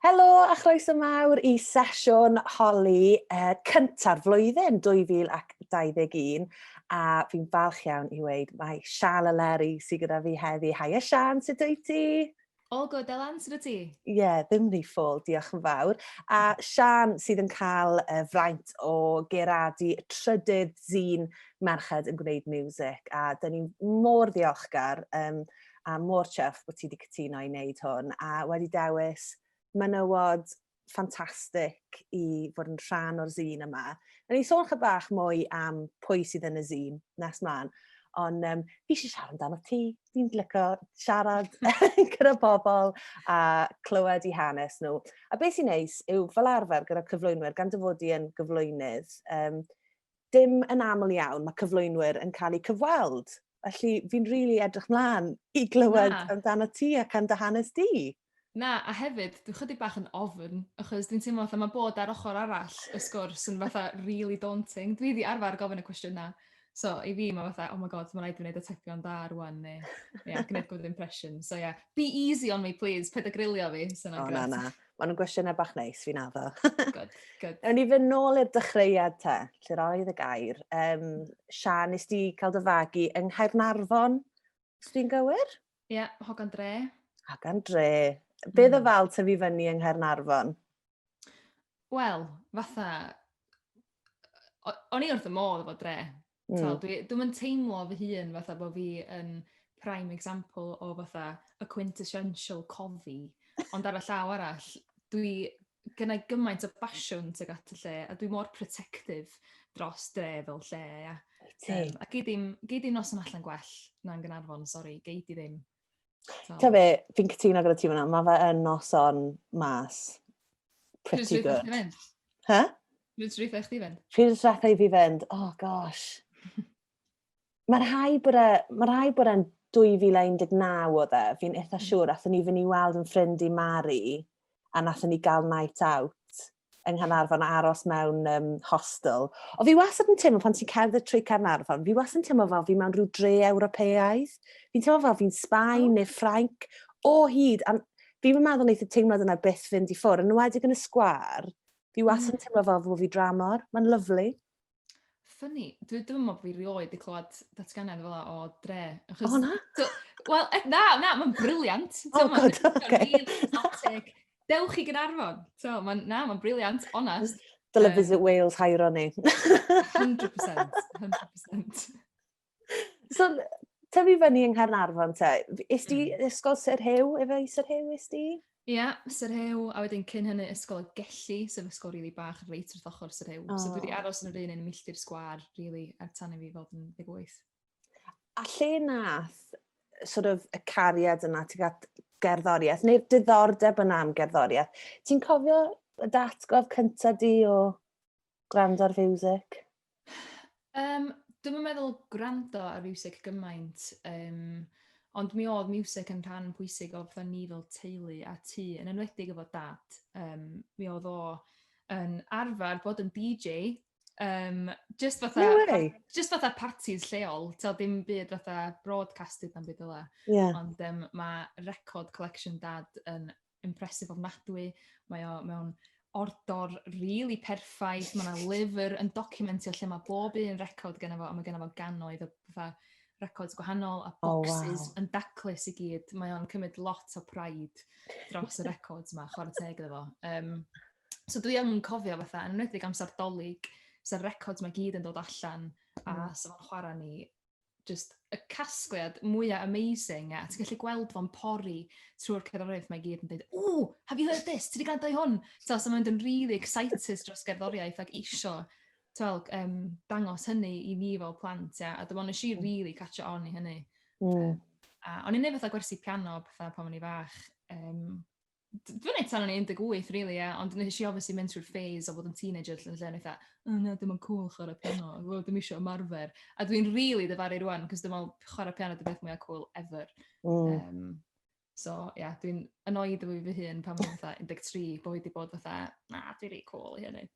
Helo a chroeso mawr i sesiwn holi uh, cynta'r flwyddyn 2021 a fi'n falch iawn i weid mae Sian a Leri sydd gyda fi heddi. Haia Sian, sut wyt ti? All good, Elan, sydd wyt ti? Ie, yeah, ddim ni ffôl, diolch yn fawr. A Sian sydd yn cael uh, fraint o geradu y trydydd zîn merched yn gwneud music a dyn ni mor ddiolchgar um, a mor chuff bod ti wedi cytuno i wneud hwn a wedi dewis menywod ffantastig i fod yn rhan o'r zîn yma. Rydyn ni'n sôn chydig bach mwy am pwy sydd yn y zîn nes mlaen, ond um, fi eisiau siarad amdano ti. Fi'n lyco siarad gyda bobl a clywed i hanes nhw. A beth sy'n neis yw fel arfer gyda cyflwynwyr, gan dyfodi yn gyflwynydd, um, dim yn aml iawn mae cyflwynwyr yn cael eu cyfweld Felly fi'n rili really edrych mlaen i glywed Na. amdano ti ac am dy hanes di. Na, a hefyd, dwi'n chydig bach yn ofn, achos dwi'n teimlo fatha mae bod ar ochr arall y sgwrs yn fatha really daunting. Dwi wedi arfer gofyn y cwestiynau. So, i fi, mae fatha, oh my god, mae'n rhaid i fi wneud y tepion da rwan, neu, ie, yeah, gwneud good impression. So, ie, yeah. be easy on me, please, peda grilio fi, sy'n oh, na, na. Mae nhw'n gwestiynau bach neis, fi'n addo. good, good. Ewn ni fy nôl i'r dechreuad te, lle roedd y gair. Um, Sian, nes di cael dy fagu yng Nghaernarfon, os dwi'n gywir? Ie, yeah, Hogan Dre. Hogan Dre. Be mm. fel tyfu fyny yng Nghaernarfon? Wel, fatha... O'n i wrth y modd efo dre. Mm. So, dwi, dwi'n mynd teimlo fy hun fatha bod fi yn prime example o fatha y quintessential cofi. Ond ar y llaw arall, dwi gynnau gymaint o basiwn tuag at y lle, a dwi mor protective dros dre fel lle, ia. Um, a gei ddim, gei ddim noson allan gwell na'n Gynarfon, sori, gei di ddim. So. Ta fe, fi'n cytuno gyda ti fyna, mae fe yn noson mas. Pretty Pryd good. Fynd? Ha? Pryd rwy'n eich di fynd? Pryd rwy'n eich di fynd? Oh gosh. Mae'n rhai bod e, mae rhai bod e'n 2019 oedd e, fi'n eitha mm. siŵr, athyn ni fynd i weld yn ffrind i Mari, a nathyn ni gael night out. yng Nghanarfon a aros mewn um, hostel. O fi wastad yn teimlo pan ti'n cerdded trwy Carnarfon, fi wastad yn teimlo fel fi mewn rhyw dre Ewropeaidd. Fi'n teimlo fel fi'n Sbaen oh. neu Ffrainc o hyd. A fi'n meddwl wneud y teimlad yna byth fynd i ffwr. Yn wedig yn y sgwar, fi wastad yn mm. teimlo fel fod fi dramor. Mae'n lyflu. Ffynnu. Dwi ddim yn meddwl bod fi rioed wedi clywed datganiad fel o dre. Achos, o na? Wel, e, na, na, mae'n briliant. O, oh, god, oce. Dewch chi gynarfon. So, ma, na, mae'n briliant, onest. Dyle um, Visit Wales hairo ni. 100%, 100%. So, tyfu fyny yng Nghaernarfon te. Is di mm. ysgol Sir Hew, efo i Sir Hew is di? Ie, yeah, Sir Hew, a wedyn cyn hynny ysgol Gelli, sef ysgol rili really bach reit wrth ochr Sir Hew. Oh. So dwi wedi aros yn yr un yn milltir sgwar, really, er tan i fi fod yn 18. A lle nath sort of, y cariad yna tuag at gerddoriaeth, neu'r diddordeb yna am gerddoriaeth, ti'n cofio y datgof cyntaf di o gwrando ar fiwsig? Um, Dwi'n yn meddwl gwrando ar fiwsig gymaint, um, ond mi oedd miwsig yn rhan pwysig o fatha ni fel teulu a tu, yn enwedig efo dad. Um, mi oedd o yn arfer bod yn DJ, um, just, fatha, no just fatha parties lleol, ta dim byd fatha broadcasted am byd yla. Yeah. Ond um, mae record collection dad yn impressive ofnadwy. Mae o mewn ordor really perffaith. Mae yna lyfr yn documentio lle mae bob un record gen fo, a mae gen fo gannoedd o fatha records gwahanol a boxes oh, wow. yn daclus i gyd. Mae o'n cymryd lot o pride dros y records yma, chwarae teg iddo fo. Um, so dwi yn cofio fatha, yn enwedig amser dolyg, sa'r records mae gyd yn dod allan, a mm. sa'n chwarae ni just y casgliad mwyaf amazing a ti'n gallu gweld fo'n pori trwy'r cerddoriaeth mae gyd yn dweud, ww, have you heard this? Ti wedi gwrando i hwn? So, so mae'n dyn really excited dros gerddoriaeth ac isio twel, um, dangos hynny i ni fel plant, ia. A dyma nes i mm. really catch on i hynny. Mm. A o'n i'n neud fatha gwersi piano, fatha pan o'n i fach. Um, dwi'n ei tan o'n i 18 really, yeah. ond nes i obviously mynd trwy'r phase o fod yn teenager lle yn eitha, o na, dim ond cool chwarae piano, well, dim eisiau ymarfer. A dwi'n really dyfaru rwan, cos dwi'n meddwl chwarae piano dy beth mwyaf cool ever. Mm. Um, so, ie, yeah, dwi'n annoyed efo fi fy hun pan mae'n fatha 13, bod wedi bod fatha, na, dwi'n rei cool i hynny.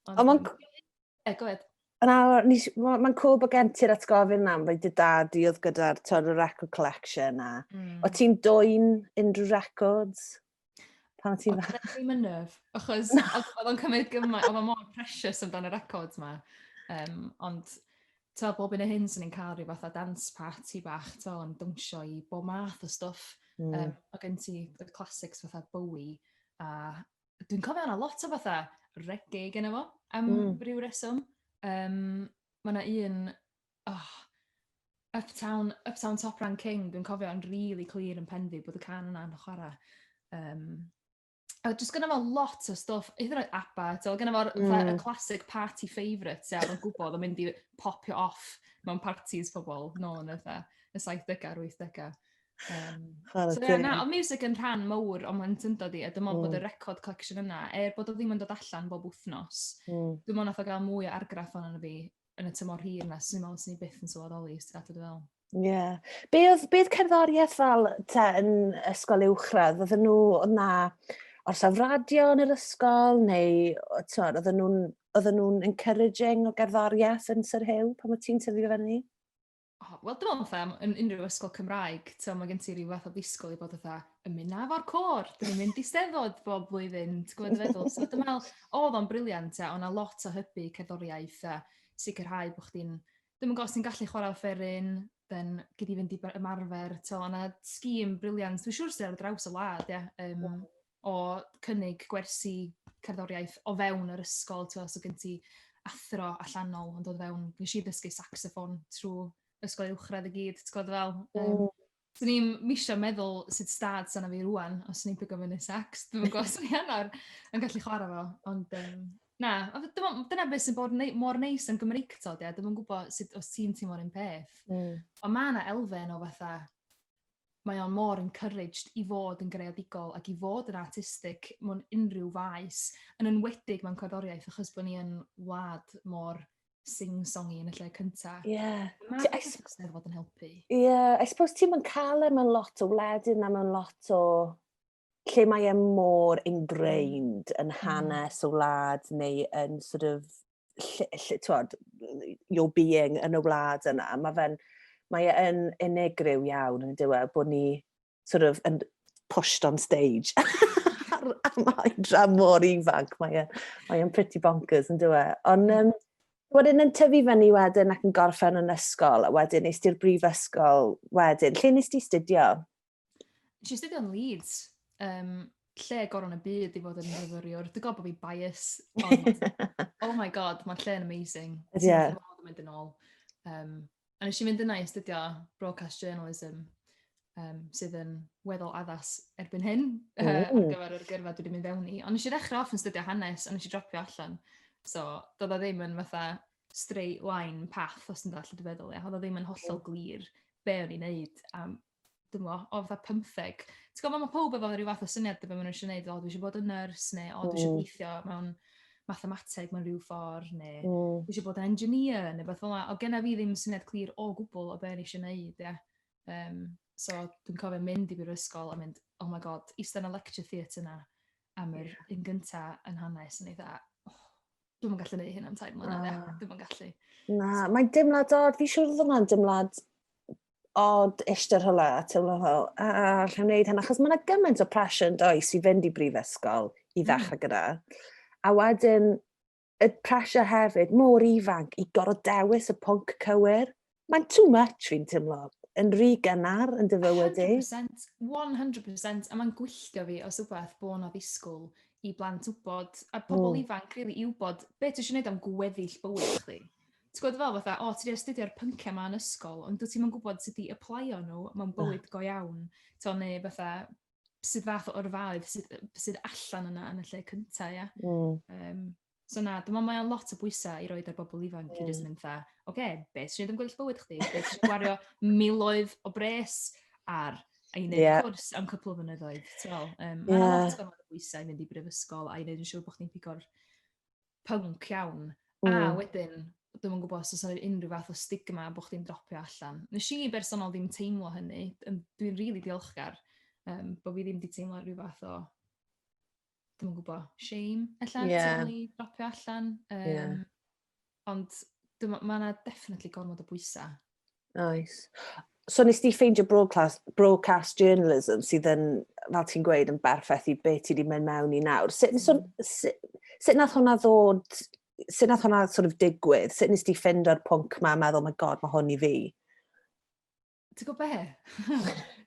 Ond, Ond mae'n... E, go ahead. Mae'n cool bod gen ti'r atgofyn na, fe dy dad i oedd gyda'r tod y record collection a... Mm. O ti'n dwy'n unrhyw records? Pan o ti'n fa? Oedd ddim yn nyf, achos oedd o'n cymryd gymaint, oedd o'n mor precious amdano y records ma. Um, ond to, bob un o hyn sy'n ni'n cael rhyw fath o dance party bach, to, yn dwnsio i bob math o stuff. Mm. Um, o gen ti, y classics fatha Bowie a dwi'n cofio yna lot o fatha reggae gen efo, am mm. rhyw reswm. Um, mae yna un, oh, Uptown, Uptown Top Rank King, dwi'n cofio yn really clir yn pen fi bod y can yna'n chwarae. Um, a jyst gyda fo lot o stwff, hyd yn oed ABBA, so gyda fo'r mm. classic party favourite, so, o'n gwybod o'n mynd i popio off mewn parties pobl, no, yn y 70au a'r 80au. Um, so, yeah, na, ond music yn rhan mawr o'n mae'n syndod i, a dim ond mm. bod y record collection yna, er bod o ddim yn dod allan bob wythnos, mm. dim ond nath o gael mwy o argraff o'n yna fi yn y tymor hir yna, sy'n meddwl sy'n ni byth yn sylweddoli, os ti'n dweud fel. Ie. Yeah. Be oedd, be oedd cerddoriaeth fel te yn ysgol uwchradd? Oedden nhw, oedd na orsaf radio yn yr ysgol, neu oedd nhw'n oedden nhw'n encouraging o gerddoriaeth yn Sir Hew pan mae ti'n tyfu fyny? O, wel, dwi'n meddwl fatha, yn unrhyw ysgol Cymraeg, ti'n mae gen ti rhyw fath o ddisgwyl i bod fatha, yn mynd na fo'r cor, dwi'n mynd i steddod bob blwyddyn, ti'n gwybod y feddwl. So, dwi'n meddwl, oedd o'n briliant, a o'na lot o hybu cerddoriaeth, a sicrhau bod chdi'n, ddim yn gwybod os ti'n gallu chwarae offeryn, then gyd di fynd i ymarfer, ti'n meddwl, o'na scheme briliant, dwi'n siŵr sydd ar draws y wlad, ia, um, o cynnig gwersi cerddoriaeth o fewn yr ysgol, ti'n gwbod, so gen ti athro allanol yn dod fewn. Wnes i ddysgu saxoffon trwy ysgol uwchradd i gyd, ti'n gwbod fel? Yym... O! ...'swn i'm isio meddwl sut 'stad 'sa 'na fi rŵan os o'n i'n pigo fyny sacs, dwi'm yn gwbod os o'n i arno yn gallu chwarae fo, ond yym, na, ond dwi me'wl dyna be' sy'n bod nei- mor neis am Gymreictod ia, dwi'm yn gwbod sut os ti'n teimlo'r un peth... Mm. ...ond ma' 'na elfen o fatha mae o'n mor encouraged i fod yn greadigol ac i fod yn artistig mewn unrhyw faes, yn enwedig mewn cerddoriaeth, achos bod ni yn wlad mor sing-songy yn y lle cyntaf. Ie. Yeah. Mae I s- Eisteddfod yn helpu. Ie, yeah, I suppose ti'm yn cael e mewn lot o wledydd na mewn lot o lle mae e mor ingrained yn mm. hanes y wlad neu yn sort of lle, lle, twod, your being yn y wlad yna. Mae fe'n, mae e yn unigryw iawn yn dywe bod ni sort of yn pushed on stage. mae dram mor ifanc, mae e'n mae e pretty bonkers yn dywe. Ond um, wedyn yn tyfu fyny wedyn ac yn gorffen yn ysgol, a wedyn nes ti'r brifysgol wedyn. Lle nes ti studio? Nes i astudio yn Leeds, um, lle goron y byd i fod yn myfyriwr. Dwi'n gwybod bod fi'n bias, ond oh my god, mae'r lle yn amazing. Ie. Yeah. Dwi'n mynd yn ôl. Um, a nes i fynd yna i astudio broadcast journalism, um, sydd yn weddol addas erbyn hyn uh, ar gyfer yr gyrfa dwi wedi mynd fewn i. Ond nes i ddechrau off yn studio hanes, ond nes i dropio allan. So, doedd o ddim yn fatha straight line path, os ti'n dall, dwi'n feddwl, ia. Oedd o ddim yn hollol glir be o'n i'n neud a dwi'n meddwl, o fatha pymtheg. Ti'n gwybod, mae pob efo rhyw fath o syniad o beth maen nhw eisiau gwneud, o, dwi eisiau bod yn nyrs, neu o, dwi eisiau gweithio mewn mathemateg mewn rhyw ffordd, neu mm. dwi eisiau bod yn engineer, neu beth fel yna. O, genna fi ddim syniad clir o gwbl o beth eisiau gwneud, ie. Um, so, dwi'n cofio mynd i brifysgol a mynd, oh my god, eistedd yn y lecture theatre yna am yr yeah. un gynta yn hanes, yn eitha, oh, dwi'n gallu gwneud hyn am tair mlynedd, ah. dwi'n gallu. Na, so, mae'n dimlad dod, fi siwr fod hwnna'n dimlad odd ishte rhywle a teimlo fel, a, alla i wneud hyn, achos mae yna gymaint o pressure yn does i fynd i brifysgol i hmm. ddechrau gyda. A wedyn, y pressure hefyd, mor ifanc, i gorfod dewis y pwnc cywir. Mae'n too much fi'n teimlo, yn rhy gynnar yn dyfywyd i. 100%, 100%, a mae'n gwylltio fi os wbeth bod yna ddisgwyl i blant wybod, a pobl mm. ifanc, rili, really, i wybod beth ydych chi'n gwneud am gweddill bywyd chdi. Ti'n gwybod fel fatha, o, ti wedi astudio'r pynciau yma yn ysgol, ond dwi ti'n mynd gwybod sut i aplaio nhw mewn bywyd go iawn. To, neu fatha, sydd fath o orfaoedd sydd, sydd allan yna yn y lle cyntaf, ia. Mm. Um, So na, dyma mae o'n lot o bwysau i roed ar bobl ifanc mm. i jyst mynd dda, oce, okay, beth sy'n ddim gwyllt bywyd chdi? Beth sy'n gwario miloedd o bres ar a i wneud yeah. cwrs am cwpl o fynyddoedd. So, um, yeah. Mae'n lot o bwysau i mynd i brifysgol a i wneud yn siŵr bod chdi'n pigo'r punk iawn. Mm. A hmm. wedyn, dwi'n yn gwybod os oes unrhyw fath o stigma bod chdi'n dropio allan. Nes i bersonol ddim teimlo hynny. Dwi'n rili really diolchgar um, bod fi ddim wedi teimlo rhyw fath o dwi'n yn gwybod, shame, allan, yeah. ni dropio allan. Um, yeah. Ond mae yna definitely gormod o bwysau Nice. So nes di ffeindio broadcast, broadcast journalism sydd yn, fel ti'n gweud, yn berffaith i beth ti wedi mynd mewn i nawr. Sut, so, mm. sut, sut nath hwnna ddod, sut nath hwnna sort of digwydd? Sut nes di ffind o'r pwnc ma a meddwl, oh my god, mae hwn i fi? Ti'n gwybod be?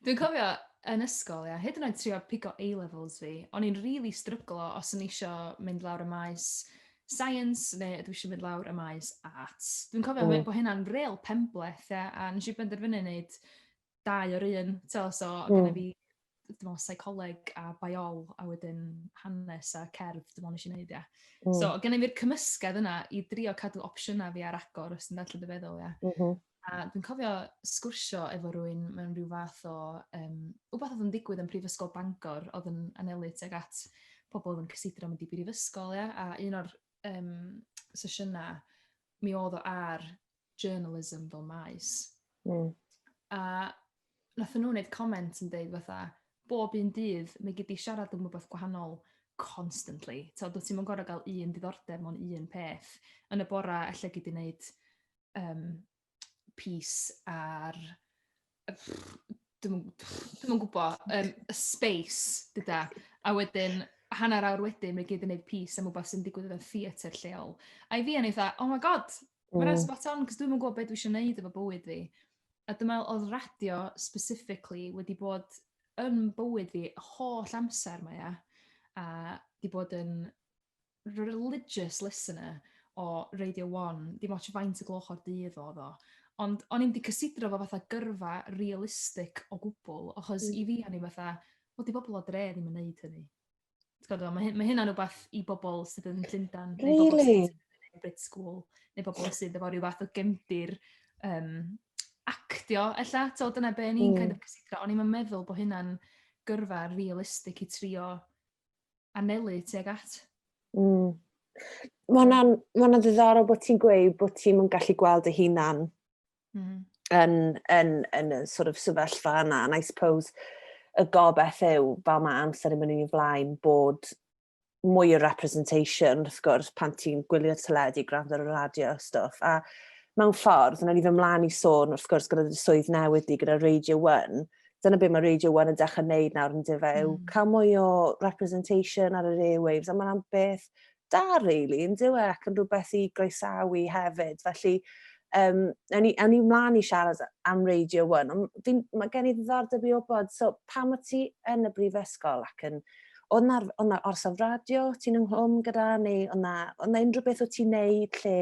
Dwi'n cofio yn ysgol, ia, hyd yn oed trio pigo A-levels fi, o'n i'n really stryglo os yn eisiau mynd lawr y maes science neu dwi eisiau mynd lawr y maes arts. Dwi'n cofio mm. bod hynna'n real penbleth, ia, a nes i benderfynu wneud dau o'r un, so, so mm. gyda fi dwi'n meddwl, seicoleg a biol, a wedyn hanes a cerdd, dwi'n meddwl nes i wneud, ia. Mm. So, gen i fi'r cymysgedd yna i drio cadw opsiynau fi ar agor, os ti'n dweud dy feddwl, ia. Mm -hmm. A dwi'n cofio sgwrsio efo rywun mewn rhyw fath o, yym, wbath oedd yn digwydd yn Prifysgol Bangor oedd yn anelu tuag at pobl oedd yn cysidro mynd i brifysgol, ia, a un o'r, yym, sesiynau, mi oedd o ar journalism fel maes. Mm. A nath nhw wneud comment yn deud fatha, bob un dydd, mae gyd i siarad am rhywbeth gwahanol constantly. Tod, dwyt ti'n mynd gorau gael un diddordeb mewn un peth. Yn y bora, allai gyd i wneud um, pys ar... Dwi'n yn gwybod, um, y space gyda. A wedyn, hanner awr wedyn, mae gyd yn gwneud pys am rhywbeth sy'n digwydd yn y theatr lleol. A i fi, o'n i dda, oh my god, mae'n mm. spot on, cos dwi'n yn gwybod beth dwi eisiau gwneud efo bywyd fi. A dyma oedd radio specifically wedi bod yn bywyd fi holl amser mae e. A di bod yn religious listener o Radio 1, dim ots faint y gloch o'r dydd oedd o, ond o'n i'n di cysidro fo fatha gyrfa realistic o gwbl, achos mm. i fi o'n i fatha, o di bobl o dre ddim yn neud hynny. Gwybod, mae, mae hynna'n rhywbeth i bobl sydd yn Llundan, really? neu bobl sydd yn Brit School, neu bobl sydd efo rhywbeth o gemdir um, actio, ella, to, dyna be ni'n mm. kind of cysidro, o'n i'n meddwl bod hynna'n gyrfa realistic i trio anelu tuag at. Mm. Mae hwnna'n ma ddiddorol bod ti'n gweud bod ti'n yn gallu gweld dy hunan mm. yn, yn, yn, yn sort of sefyllfa yna. And I suppose y gobeth yw, fel mae amser yn mynd i'n flaen, bod mwy o representation, wrth gwrs, pan ti'n gwylio'r teledu, gwrando ar y radio a stwff. A mewn ffordd, yna ni fy mlaen i sôn, wrth gwrs, gyda'r swydd newydd di, gyda Radio 1, dyna beth mae Radio 1 yn dechrau wneud nawr yn dife, mm. yw hmm. cael mwy o representation ar yr airwaves, a mae'n am beth da, really, yn diwe, ac yn rhywbeth i groesawu hefyd. Felly, um, awn ni, awn ni mlaen i siarad am Radio 1, ond mae gen i ddiddordeb i obod, so pam o ti yn y brifysgol ac yn Oedd na, oedd na orsaf radio ti'n ynghlwm gyda, neu oedd na, oedd na unrhyw beth o ti'n neud lle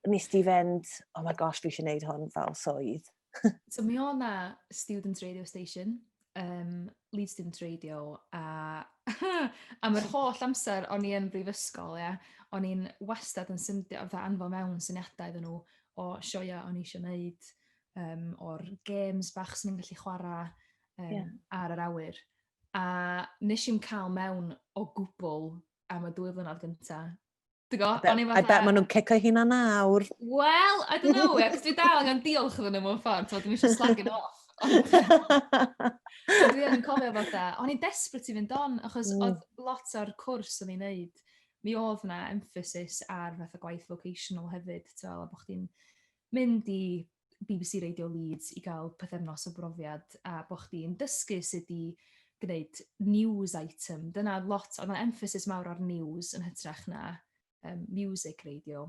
nes di fynd, oh my gosh, fi eisiau gwneud hwn fel swydd? so mi o'n na student radio station, um, lead student radio, a am yr holl amser o'n i yn brifysgol, ia, o'n i'n wastad yn symdio, fatha anfo mewn syniadau iddyn nhw o sioia o'n i eisiau gwneud, um, o'r games bach sy'n ni'n gallu chwarae um, yeah. ar yr awyr. A nes i'n cael mewn o gwbl am y dwy flynedd gyntaf, Dwi'n gwybod, o'n i fatha... I bet maen nhw'n cicio hynna nawr. Wel, I don't know, ac dwi dal angen diolch iddyn nhw mewn ffordd, so dwi'n eisiau slagin off. Dwi yn cofio fatha, o'n i'n desperate i fynd on, achos mm. oedd lot o'r cwrs o'n i'n neud, mi oedd yna emphasis ar fatha gwaith vocational hefyd, ti'n meddwl, bod chdi'n mynd i bbc Radio Leeds i gael pythefnos o brofiad a bod chdi'n dysgu sut i gwneud news item. Dyna lot, oedd yna emphasis mawr ar news yn hytrach na um, music radio.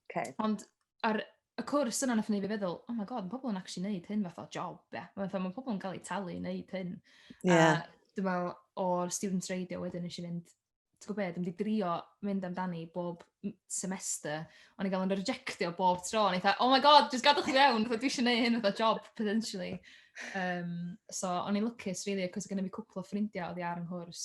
Okay. Ond ar y cwrs yna nath ni fi feddwl, oh my god, mae pobl yn actually neud hyn fath o job, ie. Yeah. Mae ma pobl yn cael eu talu i neud hyn. Yeah. A dwi'n meddwl, o'r student radio wedyn nes i fynd ti'n gwybod be, dwi 'di drio mynd amdani bob semester, ond i gael yn rejectio bob tro, ond eitha, oh my god, just gadwch i fewn, dwi eisiau gwneud hyn fatha job, potentially. Um, so, o'n i'n lwcus, really, cos gyda mi cwpl o ffrindiau oedd i ar yng nghwrs,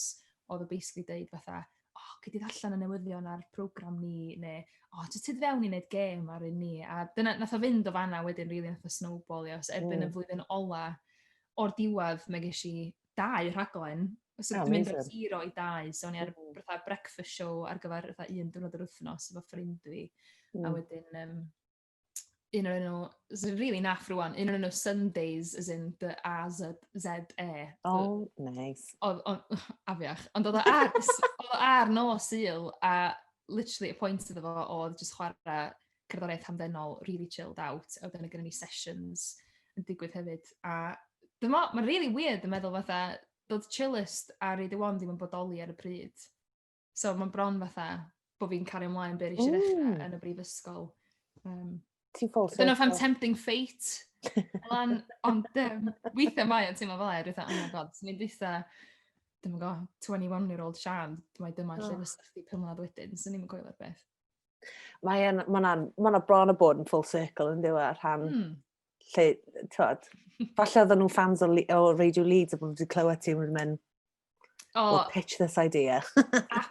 oedd o basically dweud fatha, oh, gyd i allan y newyddion ar program ni, neu, oh, jyst tyd fewn i wneud gêm ar un ni. A dyna, nath o fynd o fanna wedyn, really, nath o snowball, ios, erbyn mm. y flwyddyn ola, o'r diwedd, mae ges i dau rhaglen. So, oh, dwi'n mynd o'r zero i dau. So, o'n i ar mm. fatha breakfast show ar gyfer fatha un diwrnod yr wythnos efo ffrind fi. Mm. A wedyn, um, un o'r enw, sy'n rili really naff rwan, un o'r enw Sundays, as in the A-Z-Z-E. Oh, nice. Oedd, afiach, ond oedd o ar, oedd o ar nos il, a literally y pwynt iddo fo oedd just chwarae cerddoriaeth hamddenol, really chilled out, a wedyn mae gennym ni sessions yn digwydd hefyd, a dyma, mae'n really weird yn meddwl fatha, dod chillest a reid y wan ddim yn bodoli ar y pryd. So mae'n bron fatha bod fi'n cario ymlaen beth eisiau ddechrau yn y brifysgol. Um, Ti'n ffôl Dyna fam tempting fate. Elan, ond um, weithiau mae yn teimlo fel er, oh my god, ni'n dweitha, ddim yn go, 21 year old Sian, mae dyma oh. lle fysa chdi pymlad wedyn, so ni'n coelio'r beth. Mae yna, mae yna, mae yna bron o bod yn full circle yn ddiwa e, rhan mm. lle, tywed, falle oedden nhw'n fans o, o Radio Leeds a bod wedi clywed ti wedi mynd, oh, we'll pitch this idea.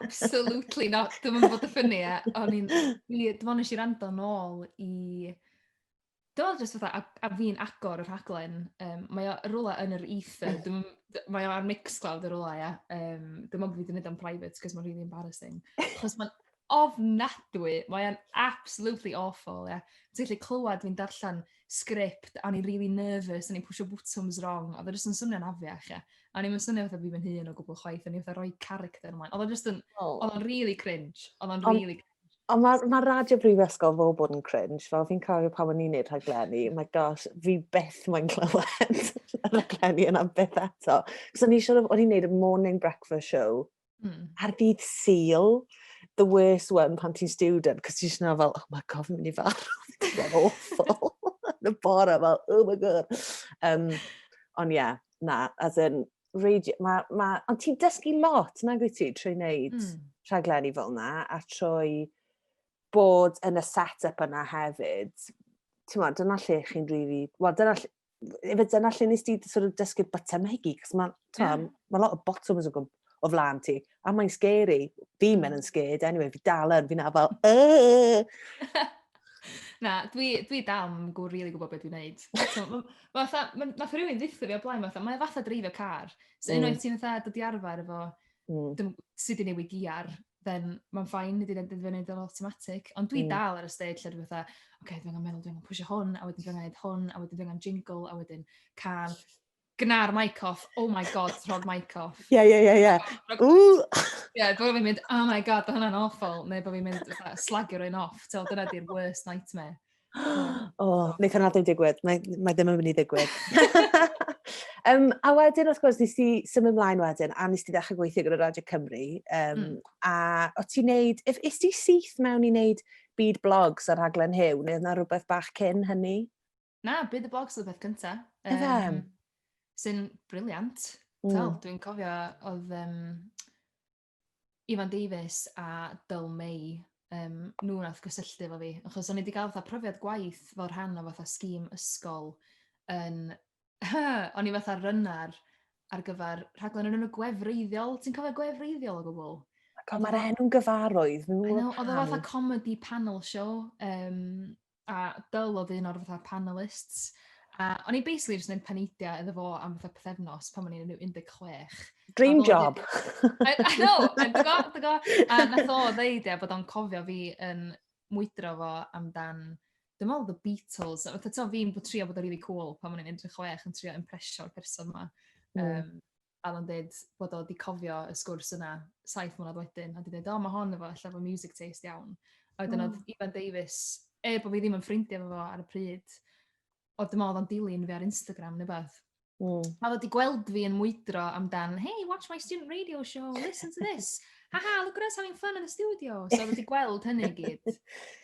absolutely not, dim yn bod y ffynnu e, o'n i'n, dim ond nes i rando nôl i Dwi me'wl jyst fatha a- a fi'n agor y rhaglen yym mae o rwla yn yr ether dwi'm yn d- mae o ar Mixcloud yn rwla ia yym dim ond bo' fi 'di neud o'n private 'c'os ma'n rili embarrasing. Achos ma'n ofnadwy mae o'n absolutely awful ia. Ti gallu clywad fi'n darllan sgript a o'n i'n rili nervous o'n i'n pwsio botwms rong a o'dd o jyst yn swnio'n afiach ia. A o'n i'm yn swnio fatha fi fy hun o gwbwl chwaith o'n i fatha roi character ymlaen. O'dd o jyst yn... O. ...o'dd o'n rili cringe o'dd o'n rili... Ond Ond mae ma radio brifysgol fel bod yn cringe, fel fi'n cofio pan o'n i'n neud rhaglenni, oh my gosh, fi byth mae'n clywed y rhaglenni yna byth eto. Cos o'n i siŵr, o'n i'n neud y morning breakfast show mm. ar ddydd syl, the worst one pan ti'n student, cos ti'n siŵr fel, oh my god, fi'n mynd i fawr, fi'n awful, yn y bore fel, oh my god. Um, ond ie, yeah, na, as in, radio, ma, ma, ond ti'n dysgu lot, nag wyt ti, trwy wneud mm. rhaglenni fel yna, a trwy bod yn y set-up yna hefyd. Ti'n ma, dyna lle chi'n rili... Really, Wel, dyna lle... Efe dyna lle nes ti sort of dysgu'r botymhegi, cos mae yeah. ma lot o bottoms o, o flan ti. A mae'n scary. Fi mm. men yn scared anyway, fi dal yn, fi'n afal, Na, dwi, dwi dal yn gwybod rili gwybod beth dwi'n neud. Mae fatha, mae ma rhywun ddiffo fi o blaen, fatha, mae'n fatha dreifio car. So mm. unwaith ti'n fatha dod i arfer efo mm. sut i newid giar, then mae'n ffain, nid i'n dweud yn automatic. Ond dwi mm. dal ar y stage lle dwi'n fatha, oce, okay, dwi'n meddwl dwi'n pwysio hwn, a wedyn dwi'n meddwl hwn, a wedyn dwi'n jingle, a wedyn can. gna'r mic off, oh my god, tro'r mic off. Ie, ie, ie, ie. Ie, bod fi'n mynd, oh my god, hwnna'n awful, neu bod fi'n mynd, slagio rhywun off, ti'n dyna di'r worst nightmare. O, oh, wneud hwnna ddim digwydd, mae, mae ddim yn mynd i ddigwydd. um, a wedyn, wrth gwrs, nes ti symud ymlaen wedyn, a nes ti ddechrau gweithio gyda Radio Cymru, um, mm. a o ti'n neud, if, is ti syth mewn i neud byd blogs ar rhaglen hyw, neu yna rhywbeth bach cyn hynny? Na, byd y blogs oedd y peth cynta. Yfe? Yym, sy'n briliant. Mm. Wel, dwi'n cofio oedd um, Ifan Davies a Dyl May, um, nhw nath gysylltu efo fi, achos o'n i wedi cael fatha profiad gwaith fel rhan o fatha sgîm ysgol yn... o'n i fatha rynnar ar gyfer rhaglen yn y gwefreiddiol. Ti'n cofio gwefreiddiol o gwbl? Mae'r enw'n gyfarwydd. I know, oedd o fatha comedy panel show. Um, a Dyl oedd un o'r fatha panelists, a o'n i basically jyst yn paneidio iddo fo am fatha pethefnos pan o'n i'n rhyw 16. Dream job! I, I know, a dy go, dy go. A nath o ddeud ia, bod o'n cofio fi yn mwydro fo amdan, dwi'n meddwl The Beatles, a fatha to fi'n bod trio bod o really cool pan o'n i'n 16 yn trio impresio'r person ma. Mm. Um, a oedd o'n deud bod o 'di cofio y sgwrs yna saith mlynedd wedyn, a 'di deud, 'o, ma' hon efo ella efo music taste iawn'. A wedyn oedd Ifan Davies, er bod fi ddim yn ffrindiau efo fo ar y pryd, oedd dwi'n meddwl oedd o'n dilyn fi ar Instagram neu beth. Mm. A oedd wedi gweld fi yn mwydro amdan, hey, watch my student radio show, listen to this. Ha ha, look at us having fun in the studio. So oedd wedi gweld hynny gyd.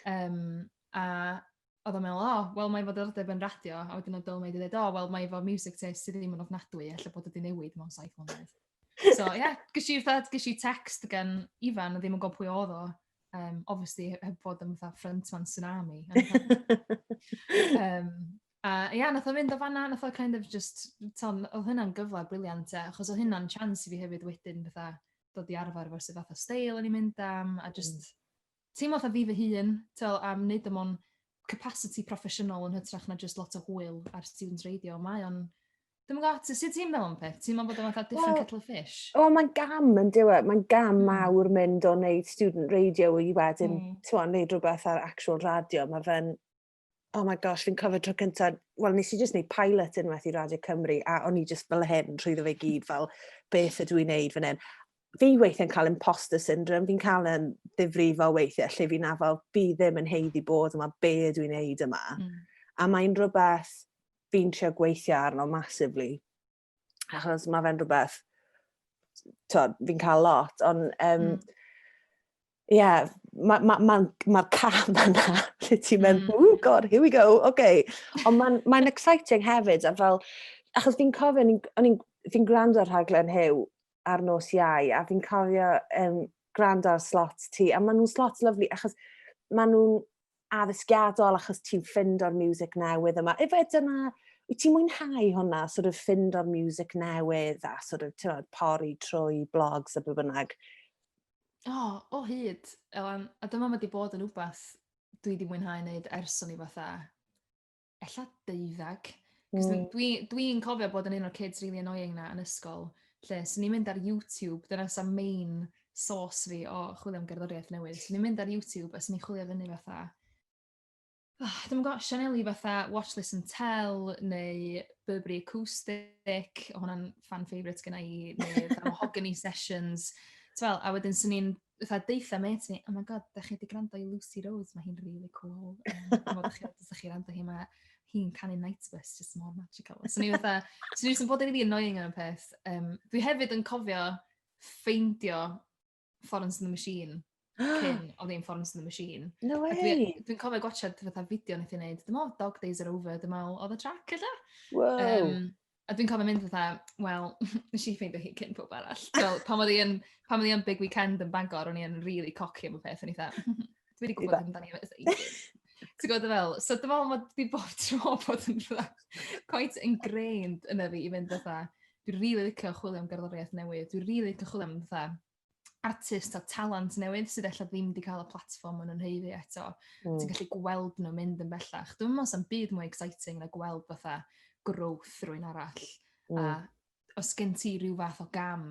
Um, a odd o'n me'wl o wel mae foddordeb yn radio a wedyn odd Dylmaid yn deud o wel mae efo miwsic taste sy ddim yn ofnadwy ella bod o 'di newid mewn saith mlynedd. So ie ges i fatha ges i text gan Ifan o' ddim yn gwbo pwy odd o yym obviously he- heb fod yn fatha front man tsunami yym a ia nath o fynd o fanna nath o kind of jyst t'o' m- odd hynna'n gyfle briliant ia achos odd hynna'n chance i fi hefyd wedyn fatha dod i arfer efo sut fath o steil o'n i'n mynd am a jyst teimlo fatha fi fy hun, t'wel am neud o mewn capasiti proffesiynol yn hytrach na jyst lot o hwyl ar student radio. Mae o'n Dwi'm yn gwybod, sut ti'n meddwl am peth? Ti'n meddwl bod o'n fatha different well, kettle of fish? Wel, mae'n gam yn diwe. Mae'n gam mm. mawr mynd o wneud student radio i wedyn, mm. ti'n meddwl, wneud rhywbeth ar actual radio. Mae fe'n oh my gosh, fi'n cofio tro cyntaf, wel, nes i jyst wneud pilot unwaith i Radio Cymru, a o'n i jyst fel hyn, rhwyddo fe gyd, fel, beth ydw i'n wneud fan hyn. Fi weithiau'n cael imposter syndrome, fi'n cael yn ddifrifo weithiau, lle fi'n afel, fi ddim yn heiddi bod yma, be ydw i'n wneud yma. Mm. A mae'n rhywbeth fi'n trio gweithio arno massively. achos mae fe'n rhywbeth, fi'n cael lot, ond um, mm ie, yeah, mae'r ma, ma, ma, ma cam yna, lle ti'n mynd, mm. oh god, here we go, oce. Okay. Ond mae'n ma exciting hefyd, a fel, achos fi'n cofio, o'n i'n fi gwrando ar rhaglen Hyw ar nos iau, a fi'n cofio um, gwrando ar slot ti, a maen nhw'n slot lyflu, achos maen nhw'n addysgiadol achos ti'n ffind o'r music newydd yma. Efe dyna, wyt ti'n mwynhau hwnna, sort of ffind o'r music newydd a sort of, ti'n meddwl, pori trwy blogs a be bynnag? O, oh, o oh, hyd, Elan. A dyma mae wedi bod yn wbath dwi wedi mwynhau wneud ers o'n i fatha ella deuddag. Cos mm. dwi'n dwi cofio bod yn un o'r kids really annoying na yn ysgol, lle swn i'n mynd ar YouTube, dyna sa main source fi o chwilio am gerddoriaeth newydd. Swn i'n mynd ar YouTube a swn i'n chwilio fyny fatha, oh, dwi'n gwybod, Sianeli fatha Watch, Listen, Tell, neu Burberry Acoustic, o hwnna'n fan favourite gyda i, neu Mahogany Sessions. Wel, a wedyn swn i'n fatha deutha mêt fi, oh my god, da chi wedi gwrando i Lucy Rose, mae hi'n really cool. Um, a fod chi, da chi rando hi, mae hi'n canu Night Bus, just mor magical. So ni fatha, so ni jyst bod yn really annoying yn y peth. Um, dwi hefyd yn cofio ffeindio Florence and the Machine cyn o ddim Florence and the Machine. No way! Dwi'n dwi cofio gwachod fatha fideo nath i'n neud, dyma Dog Days Are Over, dyma oedd y track ydw. Wow! Um, A dwi'n cofio mynd fatha, wel, wnes i ffeindio hi cyn pawb arall. Fel, pan oedd hi yn, pan oedd hi yn Big Weekend yn Bangor, o'n i yn really cocky am y peth, o'n i fatha, "Mhm, dwi wedi gwybod amdani ers ages. Ti'n gwybod be fel? So dwi'n meddwl mod fi bob tro bod yn fatha quite ingrained yna fi i fynd fatha, dwi'n really licio chwilio am gerddoriaeth newydd, dwi'n really licio chwilio am fatha artist a talent newydd sydd efallai ddim wedi cael y platform maen nhw'n heiddi eto. Mm. Ti'n gallu gweld nhw mynd yn bellach. Dwi'n meddwl sy'n byd mwy exciting na gweld fatha growth rwy'n arall. Mm. A os gen ti rhyw fath o gam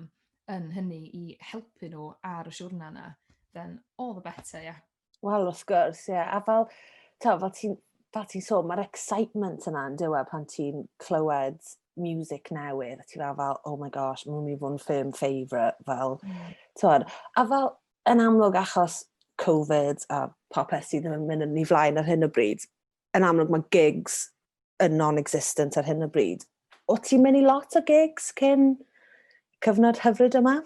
yn hynny i helpu nhw ar y siwrna yna, then all the better, yeah. Wel, wrth gwrs, ie. Yeah. A fel, ta, fel ti'n fel ti'n sôn, mae'r excitement yna yn diwedd pan ti'n clywed music newydd, a ti'n fel, fel, oh my gosh, mae'n mynd i fod yn ffilm favourite, fel, mm. tywed. A fel, yn amlwg achos Covid a popeth sydd yn mynd yn ei flaen ar hyn o bryd, yn amlwg mae gigs yn non-existent ar hyn o bryd. O ti'n mynd i lot o gigs cyn cyfnod hyfryd yma?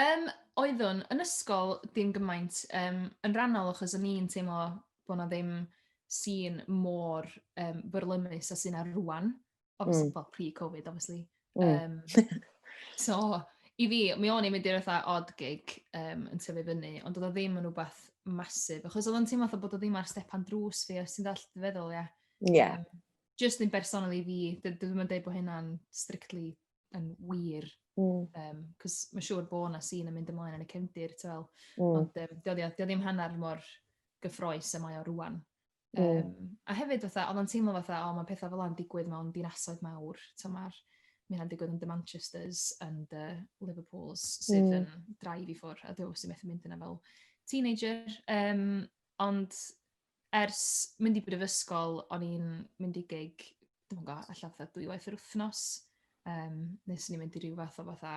um, oeddwn yn ysgol dim gymaint um, yn rhannol achos o'n i'n teimlo bod na ddim sy'n mor um, byrlymus a sy'n ar rwan. obviously, well, pre-Covid, obviously. Um, so, i fi, mi o'n i'n mynd i'r fatha odd gig um, yn tyfu fyny, ond oedd o ddim yn rhywbeth masif, achos oedd o'n teimlo fatha bod o ddim ar stepan drws fi, os ti'n dall dy feddwl, ia. Ie. Um, just yn bersonol i fi, dwi'n mynd dweud bod hynna'n strictly yn wir, mm. um, cos mae'n siŵr bod yna sy'n yn mynd ymlaen yn y cefndir, ti'n fel, mm. ond um, dio ddim hanner mor gyffroes y mae o rwan. Mm. Yym, a hefyd fatha, oedd o'n teimlo fatha, o, mae pethau fel yna'n digwydd mewn dinasoedd mawr, so mae'r, mae hynna'n digwydd yn dy Manchesters yn dy Liverpools sydd mm. yn drive i ffwrdd, a dwi'n sy'n methu mynd yna fel teenager. Um, ond ers mynd i brifysgol, o'n i'n mynd i gig, dwi'n gwybod, allan fatha dwy waith yr wythnos, um, nes ni'n mynd i ryw fath o fatha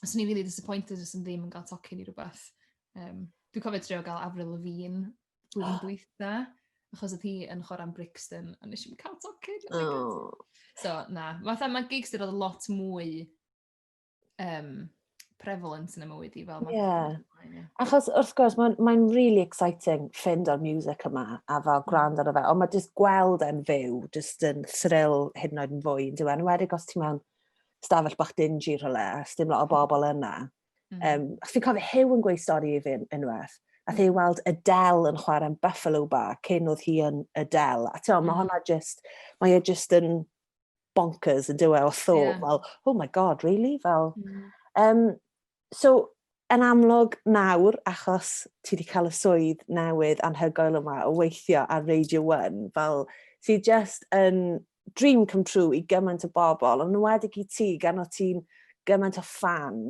os ni'n really disappointed os ni'n ddim yn cael tocyn i rhywbeth. Um, dwi'n cofio trio gael Avril Lavigne dwi'n oh. dwytha, achos oedd hi yn chwarae'n Brixton, a nes i'n cael tocyn. Oh. So, na. Fatha, mae gigs dyn oedd lot mwy um, prevalent yn y mywyd i fel. Yeah. yeah. Achos wrth gwrs, mae'n mae really exciting ffind o'r music yma a fel mm. gwrand ar y fe. Ond mae jyst gweld e'n fyw, jyst yn thrill hyn oed yn fwy yn diwen. Wedig os ti mewn stafell bach dingy rhywle, a sdim lot o bobl yna. Mm. Um, a fi'n cofio Hew yn gweud stori i fi unwaith, a mm. Hew weld Adele yn chwarae yn Buffalo Bar cyn oedd hi yn Adele. A ti'n mm. mae hwnna just, mae e just yn bonkers yn dywe o thought, yeah. fel, oh my god, really? Fel, mm. um, So, yn amlwg nawr, achos ti wedi cael y swydd newydd anhygoel yma o weithio ar Radio 1, fel sydd just yn dream come true i gymaint o bobl, ond wedig i ti, gan o ti'n gymaint o fan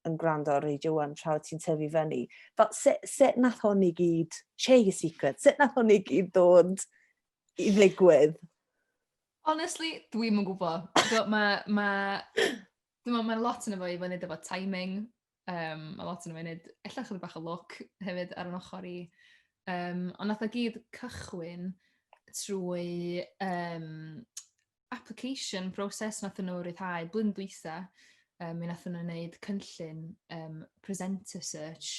yn gwrando ar Radio 1 tra o ti'n tyfu fyny. Fel, sut, sut nath hwn i gyd, share your secret, sut nath hwn i gyd dod i ddigwydd? Honestly, dwi'm yn gwybod. Mae ma dwi'n meddwl mae lot yn y fo i fyny efo timing, yym, mae lot yn y fo i wneud ella chydig bach o lwc hefyd ar ein ochr i. Yym, ond wnaeth o gyd cychwyn trwy yym application process wnaethon nhw ryddhau blwyddyn dwytha, yym, mi wnaethon nhw wneud cynllun yym presenter search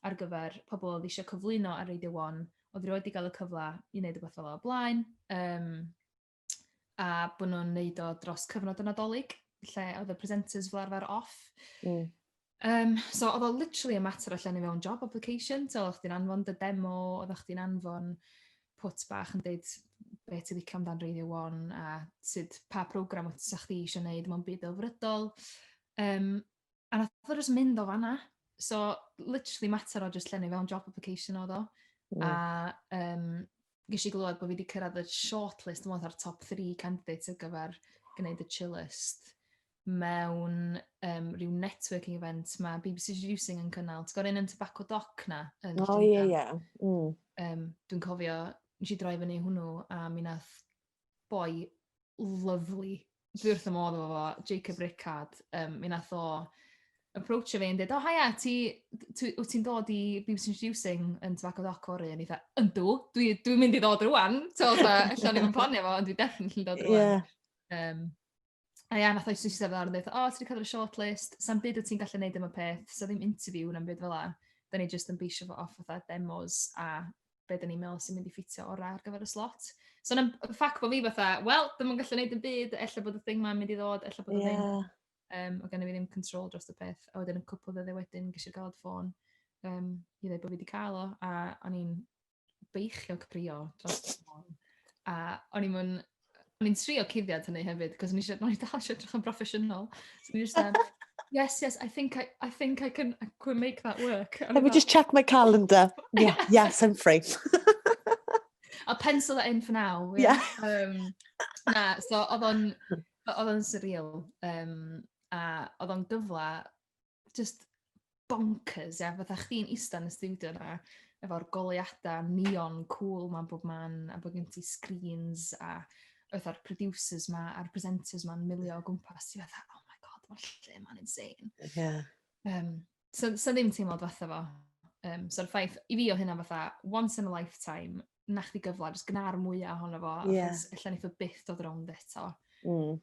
ar gyfer pobl oedd eisiau cyflwyno ar Radio One, oedd rioed wedi cael y cyfle i wneud rywbeth fel 'na o'r blaen, yym... a bod nhw'n neud o dros cyfnod y Nadolig, lle oedd y presenters fel arfer off. Mm. Um, so oedd o literally a mater allan i mewn job application, so oedd chdi'n anfon dy demo, oedd chdi'n anfon pwt bach yn dweud beth ti'n licio amdan Radio 1 a sut pa program oedd sa'ch chi eisiau gwneud mewn byd o frydol. Um, A wnaeth o jyst mynd o fan'na. So, literally mater o jyst llenwi fewn job application oedd o. A yym, ges i glywed bod fi 'di cyrraedd y shortlist, dwi'n meddwl fatha'r top three candidates ar gyfer gwneud y chillyst mewn yym ryw networking event ma' BBC Introducing yn cynnal. Ti'n cofio'r un yn Tobacco Dock 'na yn Llundain? O ie ie. Mm. Yym, dwi'n cofio, wnes i droi fyny i hwnnw a mi wnaeth boi lyfli. Dwi wrth y modd efo fo, Jacob Rickard. Um, mi nath o approachio fi yn dweud, o oh, haia, ti, wyt ti'n dod i BBC Introducing yn Tobacco Doc o'r un? Eitha, yndw, dwi'n dwi mynd i ddod rwan. So, allan ni'n planio fo, ond dwi'n definitely dod rwan. Yeah. Um, A ia, nath o'i swisio fel arall, dweud, o, ti wedi cael y shortlist, sa'n byd o ti'n gallu gwneud am y peth, so ddim interview na'n byd fel la. Da ni jyst yn beisio fo off fatha demos a be da ni'n meddwl sy'n mynd i ffitio orau ar gyfer y slot. So na'n ffac bod fi fatha, wel, ddim yn gallu gwneud yn byd, ella bod y thing ma'n mynd i ddod, ella bod y thing. Yeah. Um, o gen i fi ddim control dros y peth. A wedyn y cwpl ddydde wedyn, gysi'r galod ffôn um, i ddweud bod fi wedi cael o, a o'n i'n beichiog brio dros y ffôn. A o'n i'n mynd, o'n i'n trio cuddiad hynny hefyd, cos o'n i'n siarad, o'n i'n dal eisiau edrych yn broffesiynol. So o'n i'n siarad, yes, yes, I think I, I think I can, I can make that work. Let me just check my calendar. Yeah, yes, I'm free. I'll pencil that in for now. Yeah. yeah. Um, na, so oedd o'n, oedd o'n surreal. Um, a oedd o'n gyfle just bonkers, ia, fatha chdi'n eista yn y studio yna, efo'r goleadau neon cool ma'n bob man, a bod gen ti screens, a oedd o'r producers ma, a'r presenters ma'n milio o gwmpas, ti fatha, oh my god, mae'r lle ma'n insane. Yeah. Um, so, so ddim teimlad fatha fo. Um, so'r ffaith, i fi o hynna fatha, once in a lifetime, na chdi gyfle, jyst gna'r mwyaf ohono fo, yeah. achos allan eitho byth dod rownd eto. Mm.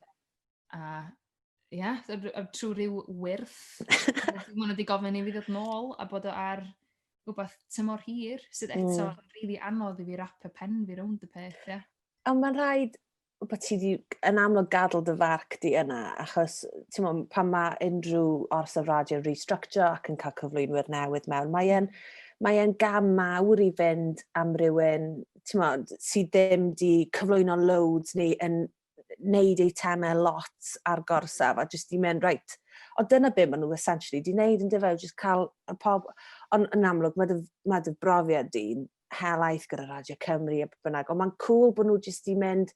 A ie, yeah, trwy rhyw wyrth. Mae hwnna wedi gofyn i fi ddod nôl a bod o ar rhywbeth tymor hir, sydd hmm. eto mm. rili anodd i fi rap y pen fi rownd y peth, ie. Yeah. A mae'n rhaid bod ti wedi yn amlwg gadw dy farc di yna, achos ti'n mwyn, pan mae unrhyw ors o radio yn restructure ac yn cael cyflwynwyr newydd mewn, mae e'n mae e'n gam mawr i fynd am rywun ti'n mwyn, sydd ddim di cyflwyno loads neu yn neud eitemau lot ar gorsaf a jyst i mynd reit. O dyna be maen nhw essentially di neud yn dyfau, jyst cael y pob... Ond yn amlwg mae dy, mae dy brofiad di'n helaeth gyda Radio Cymru a bynnag, ond mae'n cool bod nhw jyst di mynd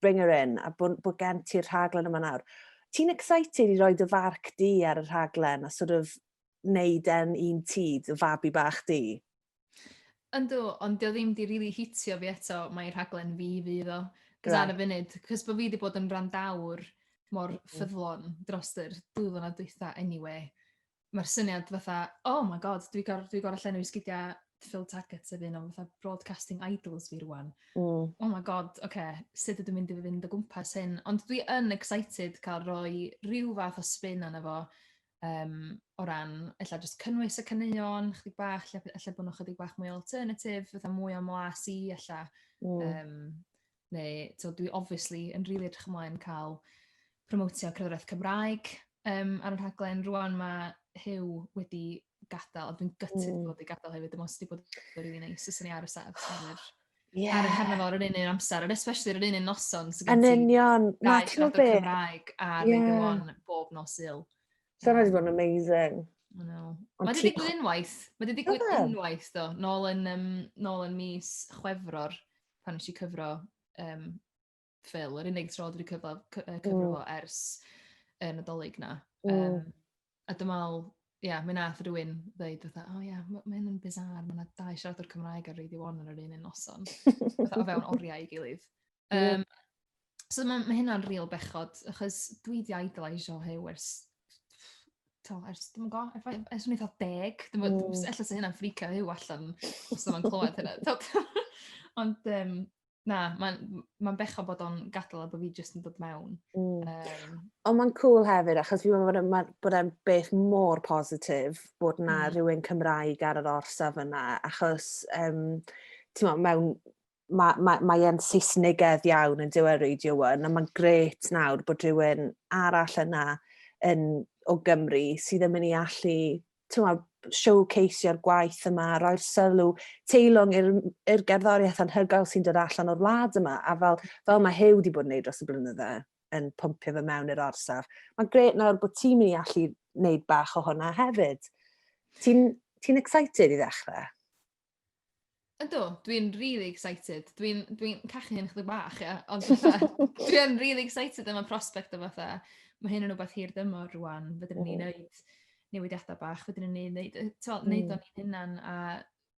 bring her in a bod, bod gen ti'r rhaglen yma nawr. Ti'n excited i roi dy farc di ar y rhaglen a sort of neud e'n un ti, dy fabi bach di? Yndw, ond 'di o ddim 'di rili hitio fi eto, mai i rhaglen fi fydd o. 'C'os ar y Reit. funud, 'c'os bo' fi 'di bod yn wrandawr mor Mm. ffyddlon drost yr dwy flynadd dwytha eniwe, ma'r syniad fatha, oh my god, dwi gor- dwi gor'o' llenwi sgidia Phil Taggart sef un o fatha broadcasting idols fi rŵan. Mm. Oh my god, ocê, sut ydw i'n mynd i fynd o gwmpas hyn? Ond dwi yn excited ca'l rhoi ryw fath o spin arno fo, um, o ran, ella jyst cynnwys y caneuon, chydig bach, lle, lle bod nhw chydig bach mwy alternatif, fatha mwy o mlas i, ella. Mm. Um, neu, to, dwi obviously yn rili really edrych ymlaen cael promotio cyfraith Cymraeg um, ar y rhaglen. Rwan mae Hyw wedi gadael, a dwi'n gytid mm. bod wedi gadael hefyd, dim ond wedi bod yn rili neis, os ni ar y set. yeah. ar y cyfnod o'r un un amser, yn especially ar yr un un noson. So yn union, na ti'n gwybod beth. Cymraeg a yeah. Radio 1 bob nos il. So yna wedi bod yn amazing. No. Mae wedi digwydd unwaith. Mae wedi digwydd unwaith, do. Nôl yn, um, nôl yn mis chwefror, pan nes i cyfro um, ffil, yr unig tro dwi wedi cyfro cy- yy cyfro fo ers y Nadolig 'na. Mm. Yym a dwi me'wl ia mi nath rywun ddeud fatha o ia ma' ma' hyn yn bizarre ma' 'na dau siaradwr Cymraeg ar Radio One ar yr un un noson. Fatha o fewn oriau 'i gilydd. Ie. Yym so ma' ma' hynna'n ril bechod achos dwi 'di idoliseio Huw ers t'o' ers dwi'm yn go' ef- ef- ers o'n i'n fatha deg dwi'm yn... Mm. ...s- ella 'sa hynna'n frîcio Huw allan os 'sa fo'n clywed hynna t'od? Ond yym Na, mae'n ma bechod bod o'n gadael a bod fi jyst yn dod mewn. Mm. Um, Ond mae'n cool hefyd, achos fi'n meddwl bod, bod e'n beth mor positif bod na mm. rhywun Cymraeg ar yr orsaf yna, achos um, ti'n meddwl, mewn mae ma, ma e'n Saesnigedd iawn yn diwedd Radio 1, a mae'n gret nawr bod rhywun arall yna yn, o Gymru sydd yn mynd i allu tymod, showcaseio'r gwaith yma, roi'r sylw, teilwng i'r, i'r gerddoriaeth anhygoel sy'n dod allan o'r wlad yma, a fel, fel mae Huw wedi bod yn neud dros y blynydde, yn pwmpio fe mewn i'r orsaf. Mae'n gret nawr bod ti'n mynd i allu wneud bach o hwnna hefyd. Ti'n ti excited i ddechrau? Ydw, dwi'n really excited. Dwi'n dwi, n, cachu hyn chdi bach, ia. Ond dwi'n really excited am y prospect o fatha. Mae hyn yn rhywbeth hir dymor rwan. Fydden ni'n mm. neud newidiadau bach. Fydden ni'n neud, neud, to, mm. neud o'n hynna'n. A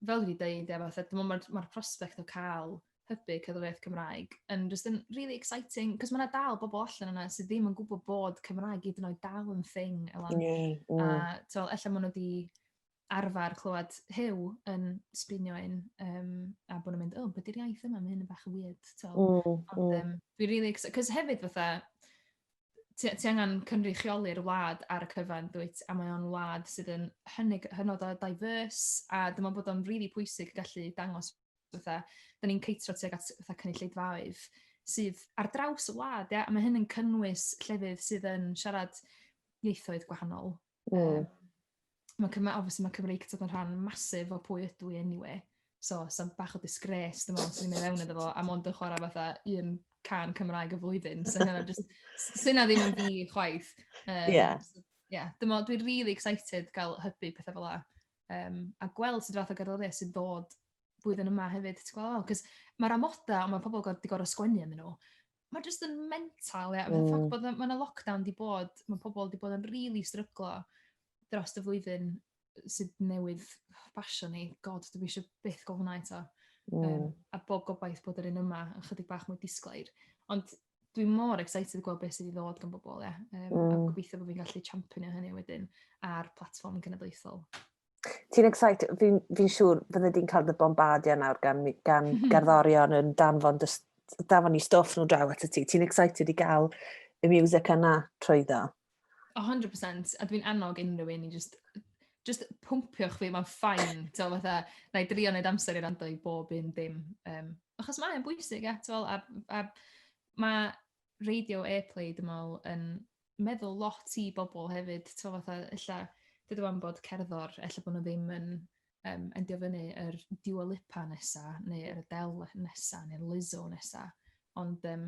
fel dwi dweud, ia, fatha, dwi'n meddwl mae'r prospect o cael hybu cyddoriaeth Cymraeg yn just yn really exciting, cos mae yna dal bobl allan yna sydd ddim yn gwybod bod Cymraeg i dyn oed dal yn thing. Mm, mm. A, to, efallai maen nhw wedi arfer clywed Huw yn sbinio un, um, a bod nhw'n mynd, o, oh, beth yw'r iaith yma, mae hyn yn bach yn weird. So, mm, ond, mm. Um, dwi'n really excited, cos hefyd fatha, ti, ti angen cynrychioli'r wlad ar y cyfan, dwyt, a mae o'n wlad sydd yn hynny, hynod o diverse, a dyma bod o'n really pwysig gallu dangos fatha, da ni'n ceitro tuag at fatha cynulleidfaoedd sydd ar draws y wlad, ia, a mae hyn yn cynnwys llefydd sydd yn siarad ieithoedd gwahanol, Mm. Mae Cymru, obviously mae Cymru Cymreictod yn rhan masif o pwy ydw i anyway. So, sa'n bach o disgrace, dim ond sy'n mynd mewn iddo fo, a mond yn chwarae fatha un can Cymraeg y flwyddyn. So, hynna just, sy'n na ddim yn fi chwaith. Um, yeah. So, yeah, dim ond, dwi'n really excited gael hybu pethau fel la. Um, a gweld sydd fath o gerddoriaeth sy'n dod blwyddyn yma hefyd, ti'n gweld? Cos mae'r amoda, ond mae pobl wedi gorau sgwennu yn nhw. Mae jyst yn mental, ie. Mm. Ffac bod mae'n lockdown di bod, mae pobl di bod yn rili really stryglo dros y flwyddyn sydd newydd basio ni. God, dwi eisiau byth gofyn hwnna eto. Mm. Um, a bob gobaith bod yr un yma yn chydig bach mwy disglair. Ond dwi mor excited i gweld beth sydd i ddod gan bobl, ie. Um, mm. A gobeithio bod fi'n gallu championio hynny wedyn ar platform cenedlaethol. Ti'n excited, fi'n fi siŵr fydde di'n cael dy bombardio nawr gan, gan mm -hmm. garddorion yn danfon, danfon i stoff nhw draw at y ti. Ti'n excited i gael y music yna trwy ddo? 100%, a dwi'n annog unrhyw un i just, just pwmpiwch fi, mae'n ffain, ti'n fatha, na i drio wneud amser i rando i bob un dim. Um, achos mae'n bwysig, e, ti'n a, a mae radio airplay dwi me'wl yn meddwl lot i bobol hefyd t'mo' fatha ella de'd o wan bod cerddor ella bo' nw ddim yn yym endio fyny yr Dua Lipa nesa neu yr Adele nesa ne'r Lizzo nesa ond yym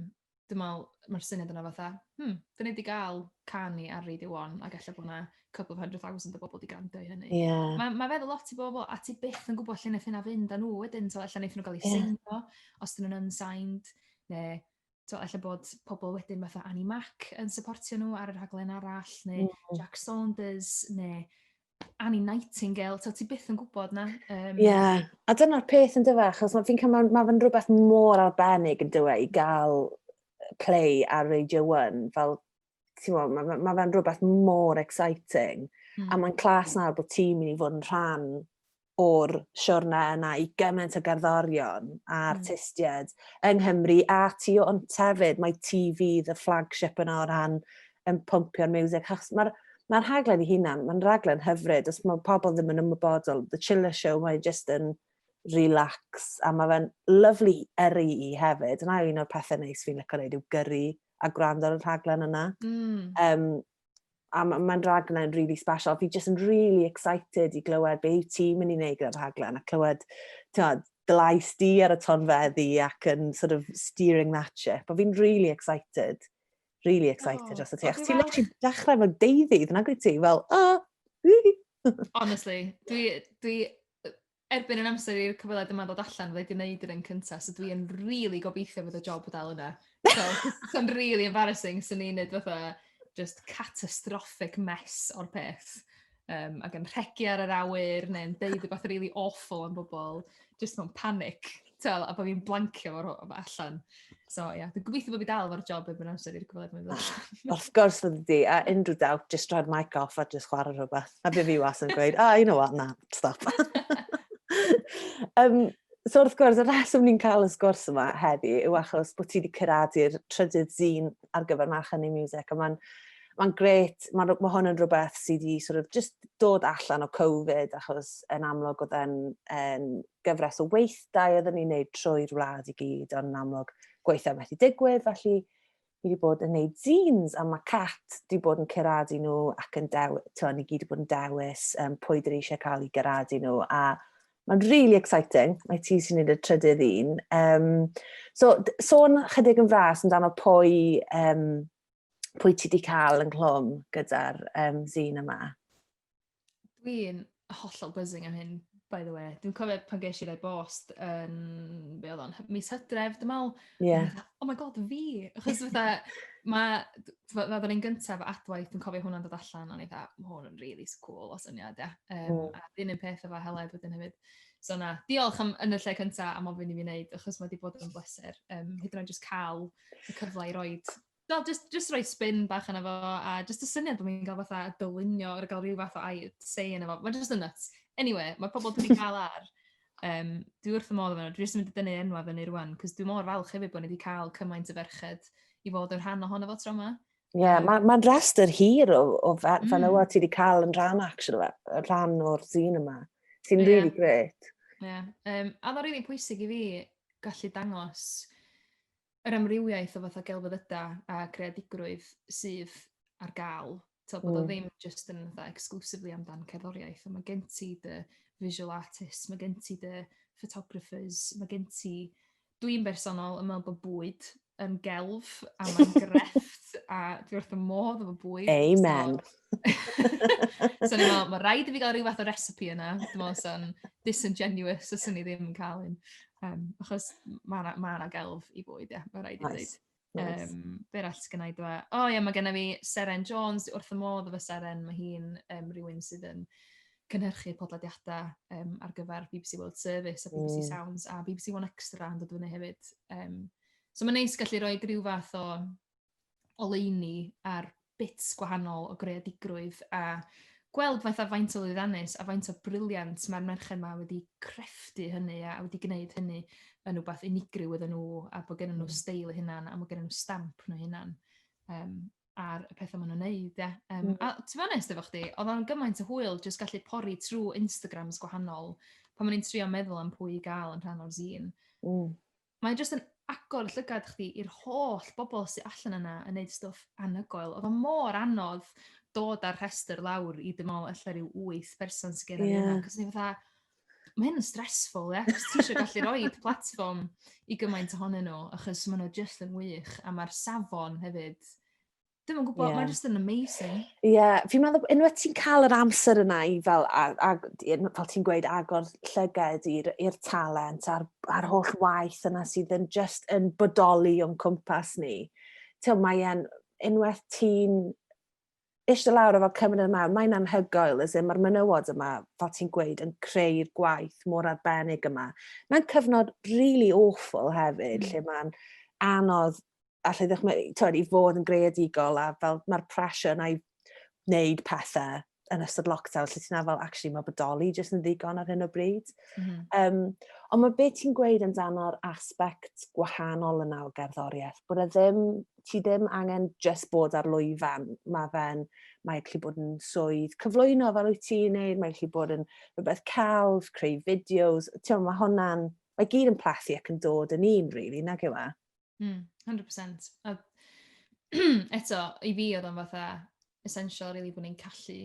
dwi me'wl ma'r syniad yna fatha hmm 'dyn ni 'di ga'l can ni ar radio one ag ella bo' 'na couple of hundred thousand o bobol 'di grando i hynny. Ia. Ma' ma' feddwl lot i bobol a ti byth yn gwbo lle neith hynna fynd â nhw wedyn t'o' ella neith nw ga'l 'u... Ia. ...seinio os 'dyn nw'n unsigned ne' tibod, ella bod pobl wedyn fatha Annie Mac yn supportio nhw ar y rhaglen arall, neu mm. Jack Saunders, neu Annie Nightingale, so ti byth yn gwybod na. Ie, um, yeah. a dyna'r peth yn dyfa, achos mae fi'n cael, mae fe'n rhywbeth mor arbennig yn dywe i gael play ar Radio 1, fel ti'n mae ma, ma fe'n rhywbeth mor exciting. Mm. A hmm. mae'n clas nawr bod ti'n mynd i fod yn rhan o'r siwrna yna i gymaint o gerddorion a hmm. artistiaid mm. yng Nghymru a tu o'n tefyd. Mae TV the flagship yna o ran yn pompio'r music. Mae'r ma rhaglen i hunan, mae'n rhaglen hyfryd. Os mae pobl ddim yn ymwybodol, The Chiller Show, mae just yn relax a mae fe'n lyflu yrru i hefyd. Yna un o'r pethau neis fi'n lyco wneud yw gyrru a gwrando ar y rhaglen yna. Mm. Um, a mae'n ma rhaglen really special. Fi jyst yn really excited i glywed be yw ti'n mynd i wneud gyda'r rhaglen a clywed tywed, dylais di ar y tonfeddi ac yn sort of steering that ship. A fi'n really excited. Really excited oh, dros y ti. Ac ti'n literally dechrau fel deuddydd, nag wyt ti? Fel, oh, Honestly, dwi, dwi erbyn yn amser i'r cyfweliad yma ddod allan, fe wedi wneud yr un cyntaf, so dwi'n rili really gobeithio bod y job o dal yna. So, so'n really embarrassing, so ni'n neud fatha just catastrophic mess o'r peth. Um, ac yn rhegi ar yr awyr, neu'n deud rhywbeth really awful am bobl, just mewn panic. Tibod, a bod fi'n blancio fo rho- allan. So, ie, yeah. dwi'n gobeithio bod fi dal fo'r job efo'n amser i'r gwybod mae'n dod. Wrth gwrs fod wedi, a unrhyw dawt, just droi'r mic off a just chwarae rhywbeth. A bydd fi was yn gweud, oh, you know what, na, stop. um, so wrth gwrs, y reswm ni'n cael y sgwrs yma heddi yw achos bod ti wedi curadu'r trydydd zine ar gyfer March Hynny Music, a mae'n mae'n gret, mae ma hwn yn rhywbeth sydd wedi sort of just dod allan o Covid, achos yn amlwg oedd e'n en, gyfres o weithdai oeddwn ni'n neud trwy'r wlad i gyd, ond yn amlwg gweithio methu digwydd, felly fi wedi bod yn neud zines a mae Cat wedi bod yn ceradu nhw ac yn dew, to, ni gyd wedi bod yn dewis um, pwy dyn ni eisiau cael i geradu nhw a mae'n really exciting, mae ti sy'n neud y trydydd un. Um, so, sôn chydig yn fras amdano pwy, um, pwy ti wedi cael ynghlwm gyda'r um, zine yma? Dwi'n hollol buzzing am hyn, by the way. Dwi'n cofio pan ges i rai bost yn, um, be oedd o'n, mis hydref, dim awl. Yeah. Oh my god, fi! Achos fatha, mae, fatha ni'n gyntaf adwaith, dwi'n cofio hwnna'n dod allan, o'n i dda, mae hwn yn really cool o syniad, ia. Um, mm. A dyn yn peth efo heled wedyn hefyd. So na, diolch am, yn y lle cyntaf am ofyn i fi wneud, achos mae wedi bod yn bleser. Um, hyd yn oed jyst cael y cyfle i roed Wel, jyst jyst rhoi spin bach arno fo, a jyst y syniad bod ni'n cael fatha dylunio ar gael ryw fath o air say ynddo fo. Mae jyst yn nuts. Eniwe, mae pobl wedi cael ar. Yym, dwi wrth fy modd efo nhw. Dwi jyst yn mynd i dynnu enwau fyny rŵan, cos dwi mor falch hefyd bod ni wedi cael cymaint o ferched i fod yn rhan ohono fo tro yma. Ie, yeah, mae'n ma rhestr hir o, o fe, mm. fenywod ti wedi cael yn rhan, actually, rhan o'r zîn yma, sy'n yeah. really great. Ie, yeah. um, a mae'n really pwysig i fi gallu dangos yr amrywiaeth o fatha gelfyddydau a creadigrwydd sydd ar gael. Tod, bod mm. o hmm. ddim just yn fatha exclusively amdan cerddoriaeth, ond mae gen ti dy visual artists, mae gen ti dy photographers, mae gen ti... Dwi'n bersonol yn meddwl bod bwyd yn gelf a mae'n grefft a dwi wrth y modd efo bwyd. Amen. So, so ni'n meddwl, mae rhaid i fi gael rhywbeth o recipe yna. Dwi'n meddwl sy'n disingenuous os ni ddim yn cael un. Um, achos mae yna ma gelf i fwyd, ie, yeah, mae rhaid i ddweud. Nice. Nice. Um, be arall sydd gennau dweud? E? O oh, ie, yeah, mae gennym fi Seren Jones, wrth y modd o fy Seren, mae hi'n um, rhywun sydd yn cynhyrchu podlediadau um, ar gyfer BBC World Service a BBC mm. Sounds a BBC One Extra yn dod fyny hefyd. Um, so mae'n neis gallu rhoi rhyw fath o oleuni ar bits gwahanol o greadigrwydd a gweld fatha faint o lwyddannus a faint o briliant mae'r merched 'ma wedi creftu hynny a wedi gwneud hynny yn wbath unigryw iddyn nhw a bod gennyn nhw mm. steil eu hunan a bod gennyn nhw stamp nhw hunan um, ar y pethau maen nhw'n neud, ie. Um, mm. A ti'n onest efo chdi, oedd o'n gymaint o hwyl jyst gallu pori trwy Instagrams gwahanol pan maen ni'n trio meddwl am pwy i gael yn rhan o'r zine. Mm. Mae jyst yn agor llygad chdi i'r holl bobl sy allan yna yn neud stwff anhygoel. Oedd o mor anodd dod â'r rhestr lawr i dim ond ella rhyw wyth person sy'n gyrraedd yeah. yna. Cos ni'n fatha, mae hyn yn stressful, ie? Yeah? Ti eisiau gallu rhoi platform i gymaint ohonyn nhw, achos maen nhw jyst yn wych, a mae'r safon hefyd Dwi'n yn gwybod, yeah. mae'n just yn amazing. Ie, yeah. fi'n meddwl, unwaith ti'n cael yr amser yna i fel, a, a, fel ti'n gweud, agor llyged i'r talent a'r, ar holl waith yna sydd yn just yn bodoli o'n cwmpas ni. Tew, mae'n, unwaith ti'n eisiau lawr o fel cymryd yma, mae'n anhygoel, as mae'r menywod yma, fel ti'n gweud, yn creu'r gwaith mor arbennig yma. Mae'n cyfnod really awful hefyd, mm. lle mae'n anodd allai ddychmygu, tywed, i fod yn greadigol a fel mae'r pressure yna i wneud pethau yn ystod lockdown, lle ti'n fel, actually, mae bodoli jyst yn ddigon ar hyn o bryd. Mm -hmm. um, ond mae beth ti'n gweud amdano'r aspect gwahanol yna o gerddoriaeth, bod e ddim, ti ddim angen just bod ar lwyfan, mae fe'n, mae gallu bod yn swydd cyflwyno fel wyt ti'n neud, mae gallu bod yn rhywbeth celf, creu fideos, ti'n mae hwnna'n, mae gyd yn plethu ac yn dod yn un, really, nag yw e? Mm, 100%. A eto, i fi oedd o'n fatha essential really bod ni'n gallu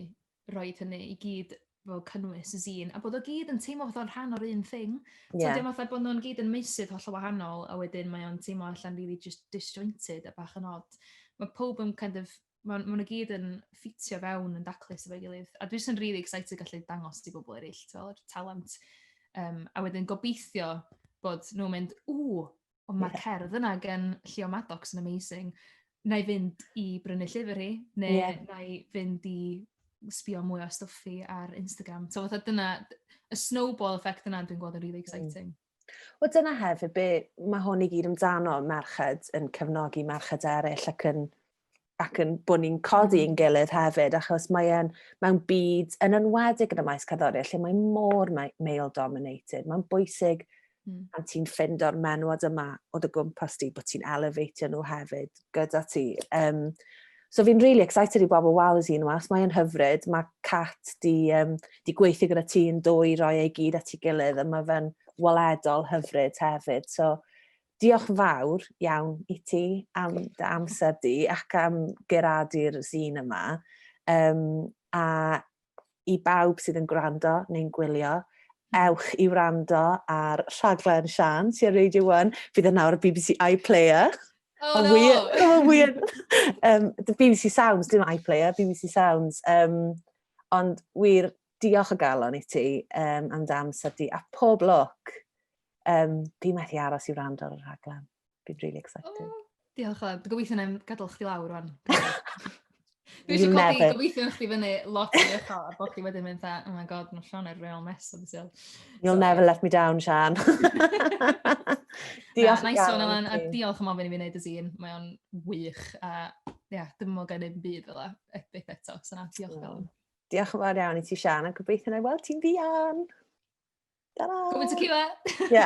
rhoi hynny i gyd fel cynnwys y zine, a bod o gyd yn teimlo fatha rhan o'r un thing. Yeah. So dim fatha bod nhw'n gyd yn meisydd holl o wahanol, a wedyn mae o'n teimlo allan really just disjointed a bach yn odd. Mae pob yn kind of, mae nhw gyd yn ffitio fewn yn daclus efo'i gilydd. A dwi'n sy'n really excited gallu dangos ti bobl eraill, fel yr talent. Um, a wedyn gobeithio bod nhw'n mynd, ww, Ond mae cerdd yna gan Llio Maddox yn amazing. Na i fynd i brynu llyfr hi, neu yeah. na i fynd i sbio mwy o stuffi ar Instagram. So fatha dyna, y snowball effect yna dwi'n gweld yn really mm. exciting. Mm. O dyna hefyd be mae hwn i gyd amdano, merched yn cefnogi merched eraill ac yn ac yn bod ni'n codi yn gilydd hefyd, achos mae e'n mewn byd yn enwedig yn y maes cerddoriaeth lle mae mor male dominated. Mae'n bwysig mm. pan ti'n ffind o'r menwod yma o dy gwmpas di, bod ti'n elevatio nhw hefyd gyda ti. Um, so fi'n really excited i bobl wal y un was, mae'n hyfryd, mae Cat di, um, di gweithio gyda ti yn dwy roi ei gyd at ei gilydd, a mae fe'n waledol hyfryd hefyd. So, Diolch yn fawr iawn i ti am dy amser di ac am geradu'r zîn yma. Um, a i bawb sydd yn gwrando neu'n gwylio, ewch i wrando ar rhaglen Sian sy'n Radio 1. Bydd yna o'r BBC iPlayer. Oh, no. Weir, oh, weir. um, the BBC Sounds, dim iPlayer, BBC Sounds. Um, ond wir, Diolch o galon i ti um, am dy amser di, a pob lwc. Um, fi methu aros i wrando ar y rhaglen. Fi'n really excited. Oh, diolch o, gobeithio na gadael chdi lawr rwan. Dwi eisiau codi gobeithio chdi fyny lot i eto, a bod chdi wedyn mynd oh my god, mae Sean er real mess o beth You'll so, never let me down, Sean. diolch na, nice one, Alan, a diolch am ofyn i fi wneud y zine. Mae o'n wych, a ia, yeah, dim ond gen i'n byd fel epic eto, so na, diolch oh. Diolch yn fawr iawn i ti, Sian, a gobeithio na i weld ti'n ddian. Ta-ra! Gwybod y ciwa! Ie.